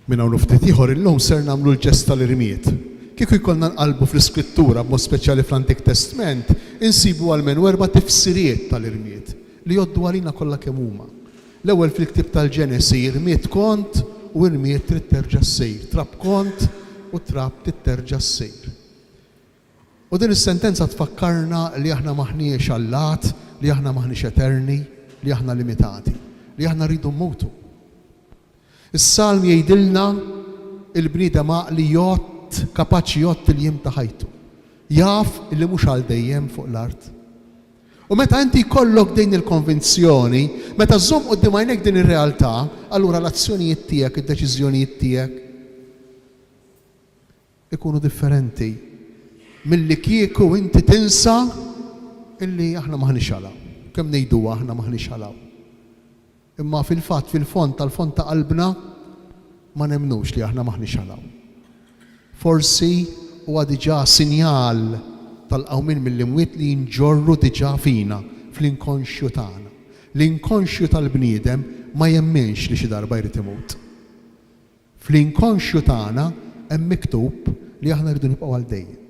Minn hawn u ftit ieħor illum ser nagħmlu l-ġest tal-irmied. Kieku jkollna nqallbu fl-Iskrittura, b'mod speċjali fl-Antik Testment, insibu almenu erba' tifsiriet tal-irmied, li jgħoddu għalina kollha kemm huma. L-ewwel fil-ktieb tal-Ġenesi, irmied kont u irmied trid terġa' ssir, trab kont u trab trid terġa' ssir. U din is-sentenza tfakkarna li aħna m'aħniex allat, li aħna m'aħniex eterni, li aħna limitati, li aħna rridu mmutu. Is-Salm jgħidilna, Il-bniedem għaqli jgħodd, kapaċi jgħodd il-jiem ta' ħajtu. Jaf li mhux għal dejjem fuq l-art. U meta inti jkollok din il-konvinzjoni, meta żżomm quddiem għajnejk din ir-realtà, allura l-azzjonijiet tiegħek, id-deċiżjonijiet tiegħek, ikunu differenti milli kieku inti tinsa illi aħna m'aħniex għala. Kemm ngħiduha aħna m'aħniex għala. Imma fil-fatt fil-fond tal-fond ta' qalbna ma nemmnux li aħna m'aħniex għala. Forsi huwa diġà sinjal tal-qawmien mill-imwiet li nġorru diġà fina, fl-inkonxju tagħna. L-inkonxju tal-bniedem ma jemminx li xi darba jrid imut. Fl-inkonxju tagħna hemm miktub li aħna rridu nibqgħu għal dejjem.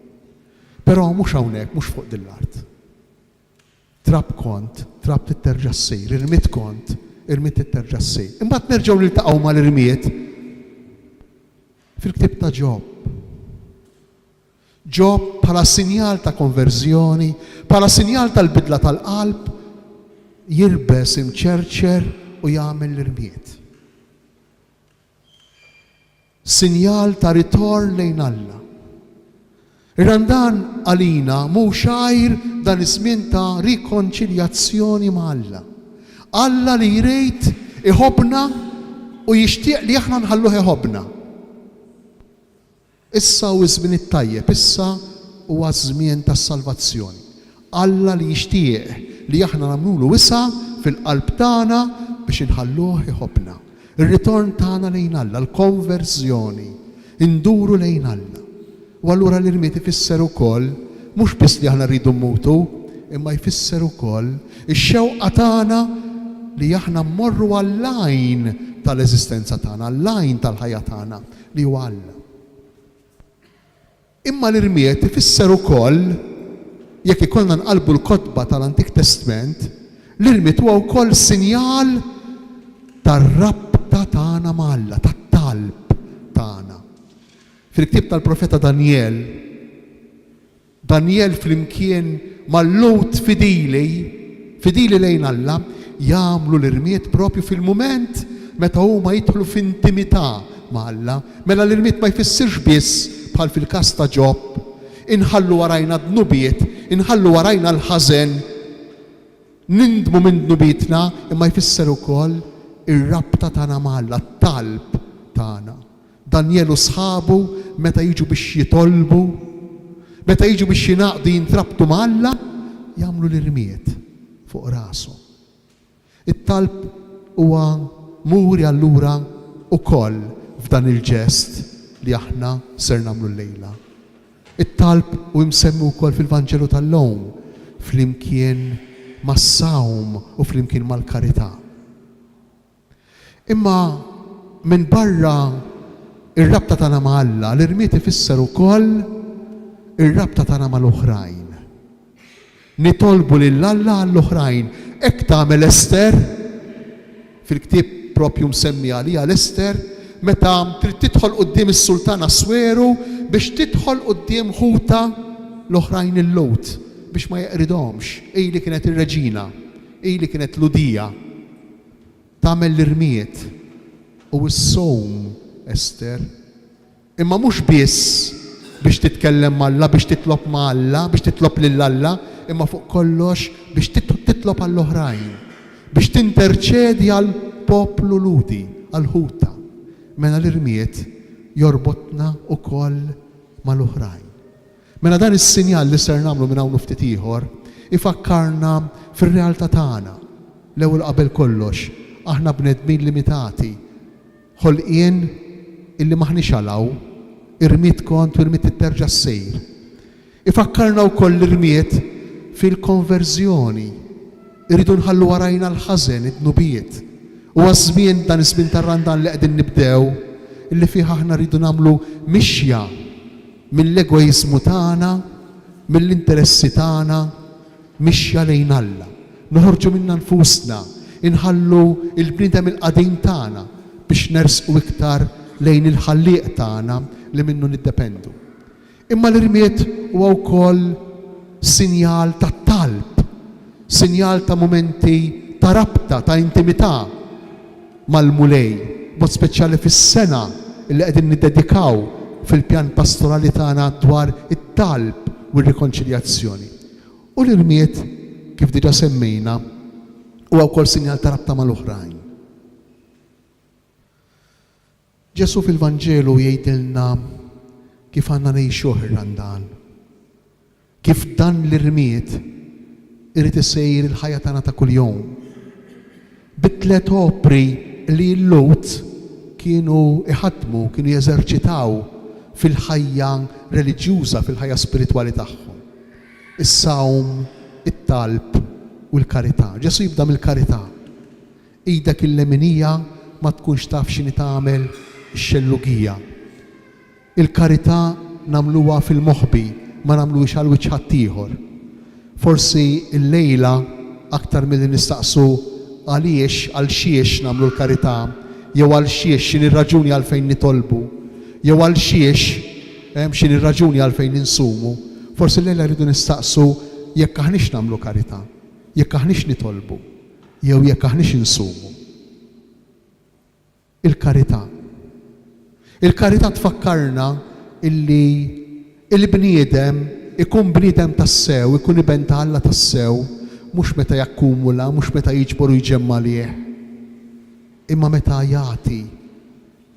Però mhux hawnhekk, mhux fuq din l-art. Trab kont, trab trid terġa' ssir, irmied kont, irmied trid terġa' ssir. Imbagħad nerġgħu niltaqgħu mal-irmied fil-ktieb ta' Ġob. Ġob bħala sinjal ta' konverżjoni, bħala sinjal tal-bidla tal-qalb, jirbes imċerċer u jagħmel l-irmied. Sinjal ta' ritorn lejn Alla. Ir-Randan għalina mhux għajr dan iż-żmien ta' rikonċiljazzjoni ma' Alla. Alla li jrid iħobbna u jixtieq li aħna nħalluh iħobbna. Issa hu ż-żmien it-tajjeb, issa huwa ż-żmien tas-salvazzjoni. Alla li jixtieq li aħna nagħmlulu wisa' fil-qalb tagħna biex inħalluh iħobbna. Ir-ritorn tagħna lejn Alla, l-konverżjoni, induru lejn Alla. U allura l-irmied ifisser ukoll mhux biss li aħna rridu mmutu, imma jfisser ukoll ix-xewqa tagħna li aħna mmorru għall-għajn tal-eżistenza tagħna, għall-għajn tal-ħajja tagħna, li huwa Alla. Imma l-irmied ifisser ukoll, jekk ikollna nqallbu l-kotba tal-Antik Testment, l-irmied huwa wkoll sinjal tar-rabta tagħna ma' Alla, tat-talb tagħna. Fil-ktieb tal-profeta Danjel, Danjel flimkien ma' Lhud fidili, fidili lejn Alla, jagħmlu l-irmied proprju fil-mument meta huma jidħlu f'intimità ma' Alla. Mela l-irmied ma jfissirx biss, bħal fil-każ ta' Ġob, inħallu warajna d-dnubiet, inħallu warajna l-ħażen, nindmu minn dnubietna, imma jfisser ukoll ir-rabta tagħna ma' Alla, t-talb tagħna. Danjel u sħabu meta jiġu biex jitolbu, meta jiġu biex jingħaqdu jintrabtu ma' Alla, jagħmlu l-irmied fuq rashom. It-talb huwa muri allura wkoll f'dan il-ġest li aħna ser nagħmlu llejla. It-talb hu imsemmi wkoll fil-Vanġelu tal-lum flimkien mas-sawm u flimkien mal-karità. Imma minbarra r-rabta tagħna ma' Alla, l-irmied ifisser ukoll ir-rabta tagħna mal-oħrajn. Nitolbu lil Alla għall-oħrajn. Hekk tagħmel Ester, fil-ktieb proprju msemmi għaliha l-Ester, meta trid tidħol quddiem is-Sultan Assweru biex tidħol quddiem ħutha l-oħrajn il-Lhud biex ma jeqridhomx. Hi li kienet ir-reġina. Hi li kienet Lhudija. tagħmel l-irmied u s-sawm, Esther, imma mhux biss biex titkellem ma' Alla, biex titlob ma' Alla, biex titlob lil Alla, imma fuq kollox biex titlob għall-oħrajn, biex tinterċedi għall-poplu Lhudi, għal ħutha. Mela l-irmied jorbotna wkoll mal-oħrajn. Mela dan is-sinjal li ser nagħmlu minn hawn u ftit ieħor ifakkarna fir-realtà tagħna. L-ewwel qabel kollox, aħna bnedmin limitati, ħolqien illi m'aħniex għal hawn, irmied kont u rmied titterġa' ssir. Ifakkarna wkoll l-irmied fil-konverżjoni. Irridu nħallu warajna l-ħażen, id-dnubiet. Huwa ż-żmien, dan iż-żmien tar-Randan li qegħdin nibdew, illi fih aħna rridu nagħmlu mixja, mill-egoiżmu tagħna, mill-interessi tagħna, mixja lejn Alla. Noħorġu minna nfusna, inħallu l-bniedem il-qadim tagħna biex nersqu iktar lejn il-Ħallieq tagħna li minnu niddependu. Imma l-irmied huwa wkoll sinjal ta' talb, sinjal ta' mumenti ta' rabta, ta' intimità. mal-Mulej, b'mod speċjali fis-sena li qegħdin niddedikaw fil-pjan pastorali tagħna dwar it-talb u r-rikonċiljazzjoni. U l-irmied, kif diġà semmejna, huwa wkoll sinjal ta' rabta mal-oħrajn. Ġesù fil-Vanġelu jgħidilna kif għandna ngħixuh ir-Randan. Kif dan li rmied irid isir il-ħajja tagħna ta' kuljum. Bit-tliet opri li l-Lhud kienu jħaddmu, kienu jeżerċitaw fil-ħajja reliġjuża, fil-ħajja spiritwali tagħhom. Is-sawm, it-talb u l-karità. Ġesù jibda mill-karità. Idek il-leminija ma tkunx taf x'inhi tagħmel ix-xellugija. Il-karità nagħmluha fil-moħbi, ma nagħmluhiex għal wiċċ ħaddieħor. Forsi llejla aktar milli nistaqsu għaliex, għal xiex nagħmlu l-karità, jew għal xiex, x'inhi r-raġuni għalfejn nitolbu, jew għal xiex, x'inhi r-raġuni għalfejn insumu, forsi llejla rridu nistaqsu jekk aħniex nagħmlu karità, jekk aħniex nitolbu, Jew jekk aħniex insumu. Il-karità. Il-karità tfakkarna illi il-bniedem ikun bniedem tassew, ikun iben ta' Alla tassew, mhux meta jakkumula, mhux meta jiġbor u jġemma' għalih, imma meta jagħti.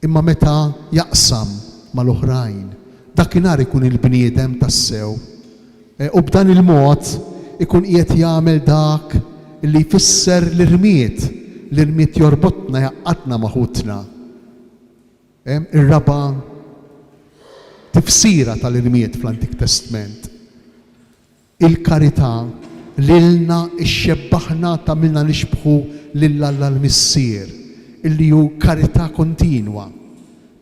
Imma meta jaqsam mal-oħrajn, dakinhar ikun il-bniedem tassew. U b'dan il-mod ikun qiegħed jagħmel dak li jfisser l-irmied. L-irmied jorbotna, jgħaqqadna ma' ħutna. Ir-raba' tifsira tal-irmied fl-Antik Testment. Il-karità lilna xxebbaħna tagħmilna nixbħu lil Alla l-Missier, illi hu karità kontinwa.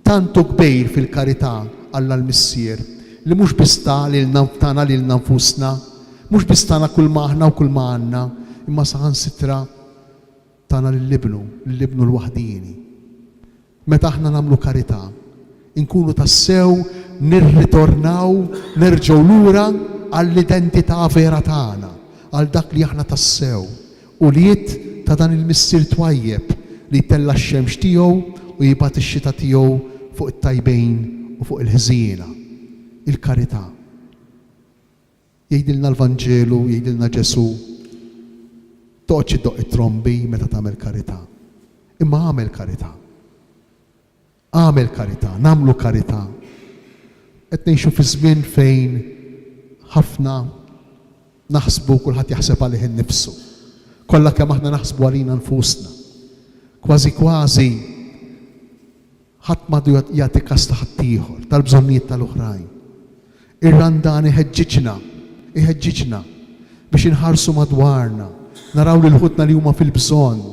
Tant hu kbir fil-karità Alla l-Missier, li mhux biss ta lilna tana lilna nfusna, mhux biss tana kulma aħna u kulma għandna, imma saħansitra tana lil Ibnu, lil Ibnu l-waħdieni. Meta aħna nagħmlu karità, inkunu tassew nirritornaw nerġgħu lura għall-identità vera tagħna, għal dak li aħna tassew, ulied ta' dan il-Missier twajjeb li jtella' x-xemx tiegħu u jibgħat ix-xita tiegħu fuq it-tajbin u fuq il-ħżiena. Il-karità. Jgħidilna l-Vanġelu, jgħidilna Ġesù, Toqgħodx iddoqq it-trombi meta tagħmel karità, imma agħmel karità. Agħmel karità, nagħmlu karità. Qed ngħixu fi żmien fejn ħafna naħsbu kulħadd jaħseb għalih innifsu. Kollha kemm aħna naħsbu għalina nfusna. Kważi kważi Ħadd m'għadu jagħti kas ta' ħaddieħor, tal-bżonnijiet tal-oħrajn. Ir-Randan iħeġġiġna, iħeġġiġna biex inħarsu madwarna, naraw lil ħutna li huma fil-bżonn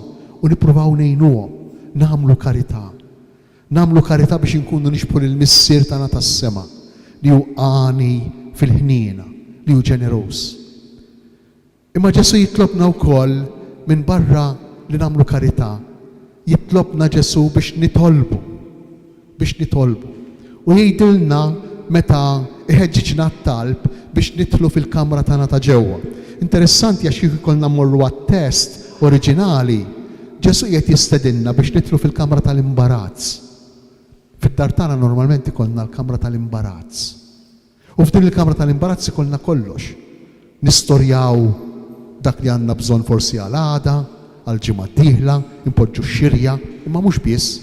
u nippruvaw ngħinuhom, nagħmlu karità. Nagħmlu karità biex inkunu nixbħu lill-Missier tagħna tas-sema li hu għani fil-ħniena, li hu ġeneruż. Imma Ġesù jitlobna wkoll minbarra li nagħmlu karità, jitlobna Ġesù biex nitolbu, biex nitolbu. U jgħidilna meta jħeġġiġna għat-talb biex nidħlu fil-kamra tagħna ta' ġewwa. Interessanti għax kieku jkollna mmorru għat-test oriġinali, Ġesù qiegħed jistedinna biex nidħlu fil-kamra tal-imbarazz. Fid-dar tagħna normalment ikollna l-kamra tal-imbarazz. U f'din il-kamra tal-imbarazz ikollna kollox, nistorjaw dak li għandna bżonn forsi għal għada, għal ġimgħa d-dieħla, inpoġġu x-xirja, imma mhux biss.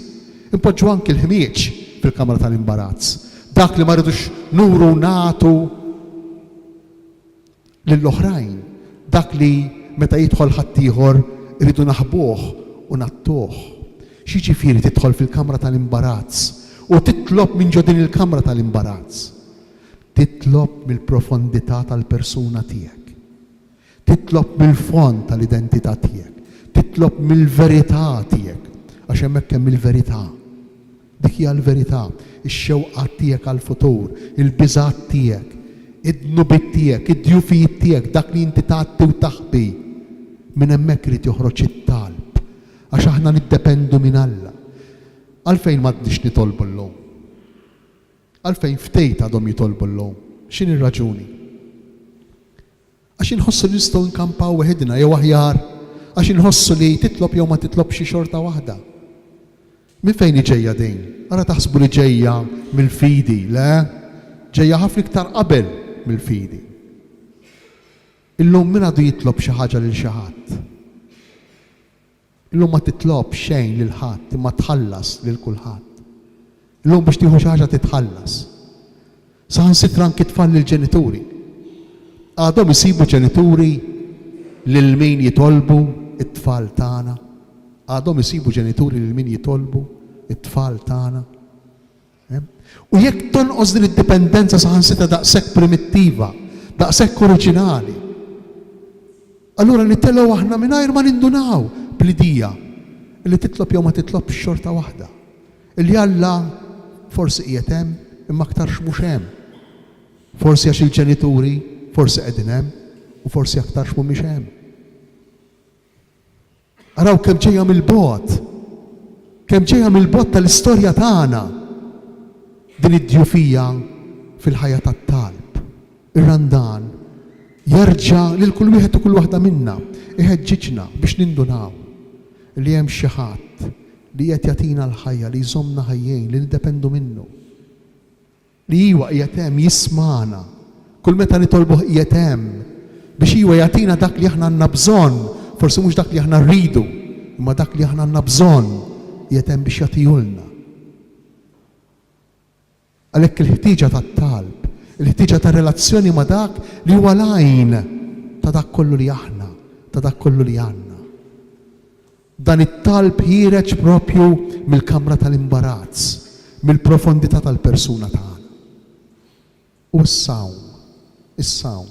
Inpoġġu anki l-ħmieġ fil-kamra tal-imbarazz, dak li ma rridux nuru u nagħtu. lill-oħrajn, dak li meta jidħol ħaddieħor irridu naħbuh u ngħattuh. X'jiġifieri tidħol fil-kamra tal-imbarazz u titlob minn ġo din il-kamra tal-imbarazz? Titlob mill-profondità tal-persuna tiegħek. Titlob mill-fond tal-identità tiegħek. Titlob mill-verità tiegħek, għax hemmhekk hemm il-verità. Dik hija l-verità, ix-xewqat tiegħek għall-futur, il-biżgħat tiegħek, id-dnubiet tiegħek, id-djufijiet tiegħek, dak li inti tgħatti u taħbi. Minn hemmhekk irid joħroġ it-talb, għax aħna niddependu minn Alla. Għalfejn m'għadniex nitolbu llum? Għalfejn ftit għadhom jitolbu llum? X'inhi r-raġuni? Għax inħossu li nistgħu nkampaw weħidna, jew aħjar, għax inħossu li titlob jew ma titlobx hi xorta waħda. Minn fejn hi ġejja din? Ara taħsbu li ġejja mill-fidi, le, ġejja ħafna iktar qabel mill-fidi. Illum min għadu jitlob xi ħaġa lil xi ħadd? Illum ma titlobx xejn lil ħadd imma tħallas lil kulħadd. Illum biex tieħu xi ħaġa titħallas. Saħansitra anki tfal lill-ġenituri. Għadhom isibu ġenituri lil min jitolbu t-tfal tagħna? Għadhom isibu ġenituri lil min jitolbu t-tfal tagħna? U jekk tonqos din id-dipendenza saħansitra daqshekk primittiva, daqshekk oriġinali, allura nittelgħu aħna mingħajr ma nindunaw bl-idija li titlob jew ma titlobx xorta waħda, li Alla forsi qiegħed hemm imma aktarx mhux hemm, forsi għax il-ġenituri forsi qegħdin hemm u forsi aktarx mhumiex hemm. Araw kemm ġejja mill-bogħod, kemm ġejja mill-bogħod tal-istorja tagħna din id-djufija fil-ħajja tat-talb. Ir-Randan jerġa' lil kull wieħed u kull waħda minna, iħeġġiġna biex nindunaw li hemm xi Ħadd li qiegħed jagħtina l-ħajja, li jżommna ħajjejn, li niddependu minnu. li iwa qiegħed hemm jismagħna, kull meta nitolbuh qiegħed hemm biex iwa jagħtina dak li aħna għandna bżonn, forsi mhux dak li aħna rridu, imma dak li aħna għandna bżonn qiegħed hemm biex jagħtihulna. Għalhekk il-ħtieġa tat-talb, il-ħtieġa ta' relazzjoni ma' dak li huwa l-għajn ta' dak kollu li aħna, ta' dak kollu li għandna. Dan it-talb ħiereġ proprju mill-kamra tal-imbarazz, mill-profondità tal-persuna tagħna. U issa hawn, issa hawn,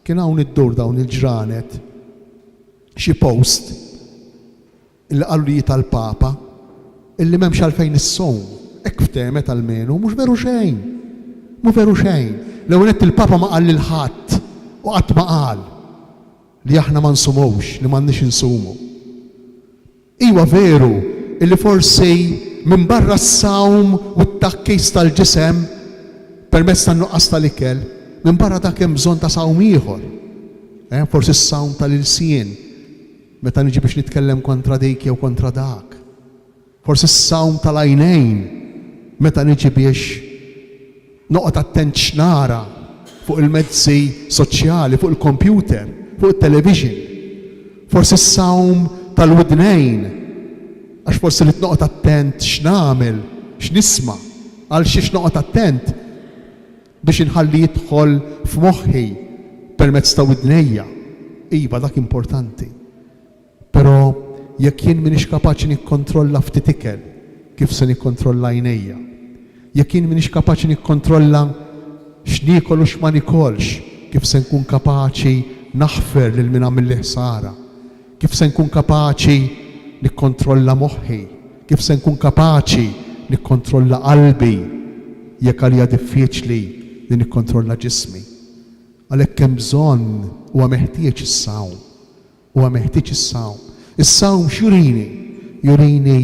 kien hawn iddur dawn il-ġranet xi post illi qalu li hi tal-Papa, illi m'hemmx għalfejn issum, hekk ftehmet almenu, mhux veru xejn, mhu veru xejn. L-ewwel nett il-Papa ma qal lil ħadd u qatt ma qal. li aħna ma nsumux, li m'għandniex insumu. Iwa veru illi forsi minbarra s-sawm u t-tgħakkis tal-ġisem permezz tan-nuqqas tal-ikel, minbarra dak hemm bżonn ta' sawm ieħor. Eh, forsi s-sawm tal-ilsien meta niġi biex nitkellem kontra dik jew kontra dak. Forsi s-sawm tal-għajnejn meta niġi biex noqgħod attent x'nara fuq il-mezzi soċjali, fuq il-kompjuter, fuq it-television. Forsi s-sawm tal-widnejn għax forsi rrid noqgħod attent x'nagħmel, x'nisma', għal xiex noqgħod attent biex inħalli jidħol f'moħħi permezz ta' widnejja. Iva, dak importanti. Però jekk jien m'iniex kapaċi nikkontrolla ftit ikel, kif se nikkontrolla għajnejja? Jekk jien m'iniex kapaċi nikkontrolla x'niekol u x'ma nikolx, kif se nkun kapaċi naħfer lil min għamilli ħsara? Kif se nkun kapaċi nikkontrolla moħħi? Kif se nkun kapaċi nikkontrolla qalbi jekk għalija diffiċli li nikkontrolla ġismi? Għalhekk hemm bżonn, huwa meħtieġ is-sawm. Huwa meħtieġ is-sawm. Is-sawm x'jurini? Jurini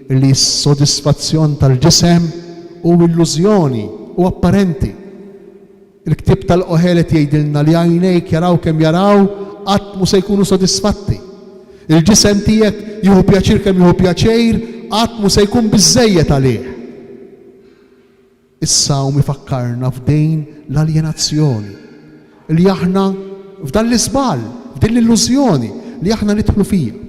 li s-sodisfazzjon tal-ġisem hu illużjoni, hu apparenti. Il-ktieb tal-Qohelet jgħidilna li għajnejk jaraw kemm jaraw qatt mhu se jkunu sodisfatti. Il-ġisem tiegħek jieħu pjaċir kemm jieħu pjaċir qatt mhu se jkun biżżejjed għalih. Is-Salm ifakkarna f'din l-aljenazzjoni, li aħna f'dan l-iżball, f'din l-illużjoni li aħna nidħlu fiha,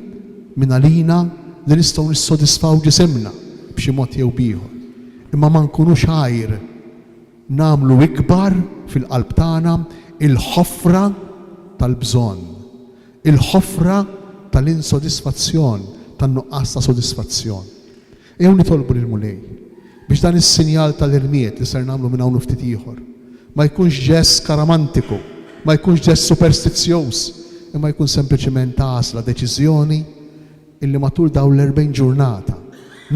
mingħalina li nistgħu nissodisfaw ġisimna b'xi mod jew b'ieħor, imma ma nkunux għajr nagħmlu ikbar fil-qalb tagħna l-ħofra tal-bżonn, il-ħofra tal-insodisfazzjon, tan-nuqqas ta' sodisfazzjon. Ejjew nitolbu lill-Mulej biex dan is-sinjal tal-irmied li ser nagħmlu minn hawn u ftit ieħor ma jkunx ġest skaramantiku, ma jkunx ġest superstizzjuż, imma jkun sempliċiment għażla, deċiżjoni illi matul dawn l-erbgħin ġurnata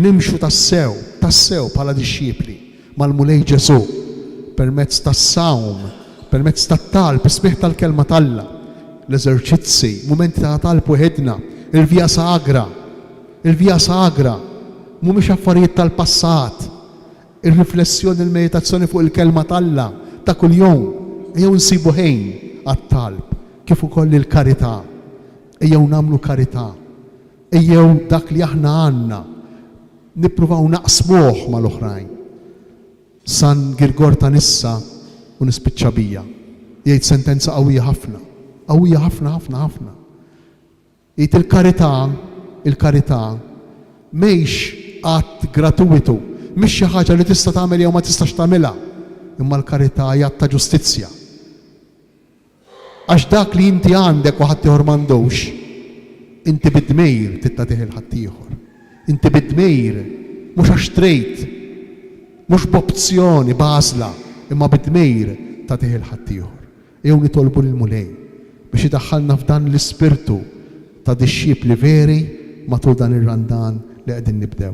nimxu tassew, tassew bħala dixxipli mal-Mulej Ġesù permezz tas-sawm, permezz tat-talb, is-smigħ tal-Kelma t'Alla, l-eżerċizzi, mumenti ta' talb weħidna, il-Via Sagra. Il-Via Sagra mhumiex affarijiet tal-passat. Ir-riflessjoni u l-meditazzjoni fuq il-Kelma t'Alla ta' kuljum ejjew insibu ħin għat-talb kif ukoll lill-karità. Ejjew nagħmlu karità. Ejjew dak li aħna għandna nippruvaw naqsmuh mal-oħrajn. San Girgor ta' Nissa, u nispiċċa bija, jgħid sentenza qawwija ħafna, qawwija ħafna ħafna ħafna. Id il-karità, il-karità, mhix att gratuwitu, mhix xi ħaġa li tista' tagħmel jew ma tistax tagħmilha, imma l-karità hi att ta' ġustizzja. Għax dak li inti għandek u ħaddieħor m'għandux, inti bi dmir trid tagħtih lil ħaddieħor. Inti bi dmir, mhux għax trid, mhux b'opzjoni, b'għażla, imma bi dmir tagħtih lil ħaddieħor. Ejjew nitolbu lill-Mulej biex idaħħalna f'dan l-ispirtu ta' dixxipli veri matul dan ir-Randan li qegħdin nibdew.